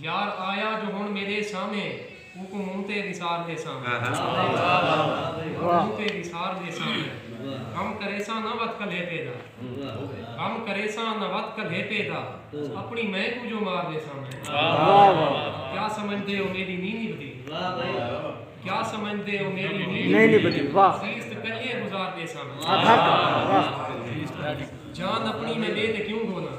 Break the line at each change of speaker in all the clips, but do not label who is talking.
یار آیا جو ہن میڈے سامھے اوکوں منہ تے وسار ڈیساں میں منہ تے وسار ڈیساں میں غم کریساں نہ وت کلھے پے دا غم کریساں نہ وت کلھے پے دا اپنی مئے کوں جو مار ڈیساں میں کیا سمجھدے او میڈی نی نبھدی کیا سمجھدے او میڈی نی نبھدی عزیز تے کلھے گزار ڈیساں میں جان اپنی میں ڈے تے کیوں گھولاں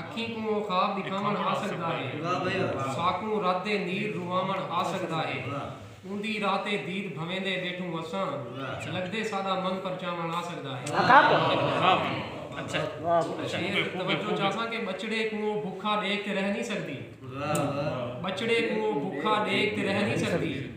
اکھیں
کوں او خواب ݙکھاوݨ آسڳدا ہے۔ ساکوں رتے نیر رواوݨ آسڳدا ہے۔ اوندی راہ تے دید بھویندے ٻیٹھوں وساں۔ لڳدے ساݙا من پرچاوݨ آسڳدا ہے۔ شیر توجہ چاساں کہ ٻچڑے کوں او بکھا ݙیکھ تے رہ نی سڳدی۔ ٻچڑے کوں او بکھا ݙیکھ تے رہ نی سڳدی۔